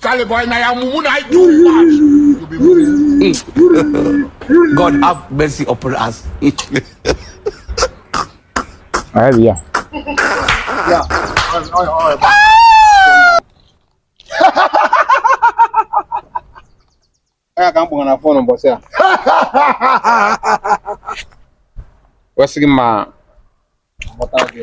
Charlie boy, na ya mumu na itu. God have mercy upon us. Ayo dia. Ya. Ayo ayo. Ọ ya ka m kpọrọ na fon ụbọchị a. Wesị gị ma. Ọmọta gị.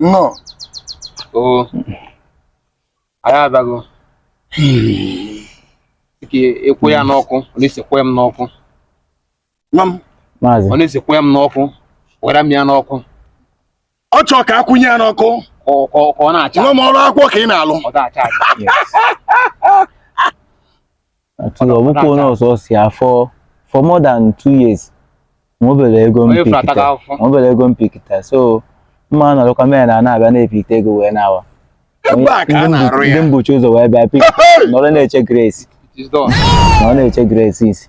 nnọọ o anyị abịago dịka ịkwụ ya n'ọkụ ọ na-esikwa ya m n'ọkụ nwa m maazị ọ na-esikwa ya m n'ọkụ were m ya n'ọkụ ọ chọọ ka a kwụnye ya n'ọkụ ka ọ- ka ọ- ka ọ na-acha nwa m ọrụ akwụkwọ ka ị na-alụ ọ ga-acha aja. yes. Ati Ọdọ- ọbụkwa ọdọ onye aka. ọsọ afịa for more than two years ma obere ego m Onye fụrụ ataga pikita afụfụ. ma obere ego m pikita so mma nọrọkwa mee na na-abịa na-epikita ego wee na-awa Ebe a ka a Ndị mbu- na-arụ ya. ndị m buchi ụzọ wee bịa pik nọrọ na-eche grace It is done. nọrọ na-eche grace isi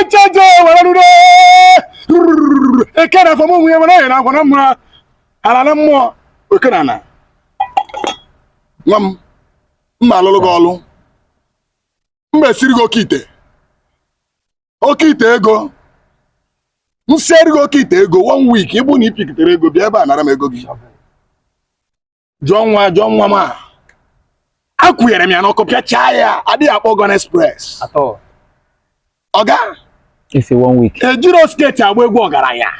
ejeje were rure eke na afọ m onwe ya were ya na akwa na mma ala na mmụọ oke na ala nwa m mma alụlụ gị ọlụ mma esiri gị oke ite oke ite ego m sieri gị oke ite ego one week ịbụ na i pikitere ego bịa ebe a nara m ego gị jụọ nwa jụọ nwa m a akwụnyere m ya n'ọkụ pịachaa ya adịghị akpọ Gun Express oga ejirọ skirt agba egwu ọgaranya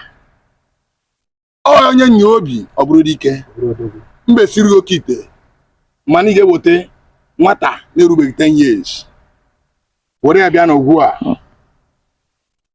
onye nwee obi ọ bụrụ dike mbe siri oke ite mana ị ga-eweta nwata na-erubeghị 10 years were ya bịa n'ugwu a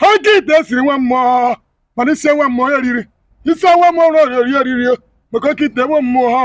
ha oke ite esiri nwa mmụọ mana isi nwa mmụọ ya riri isi nwa mmụọ riri eriri maka oke ite nwa mmụọ ha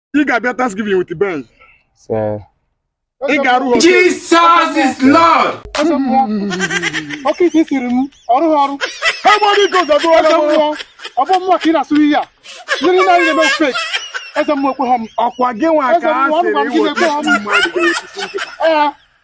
ị ga-abịa Thanksgiving with Benz ị ga-arụ ha Jesus is Lord oke ite siri m ọrụ ha ọrụ ha gbọọ gị gozo gụọ eze mmụọ ọ bụ mmụọ ka ị na-asụrụ ihe a ndị niile anyị na-eme fake eze mmụọ ekweha m ọkwa gị nwa ka a sịrị wete isi mmadụ ga-ewete isi nkịta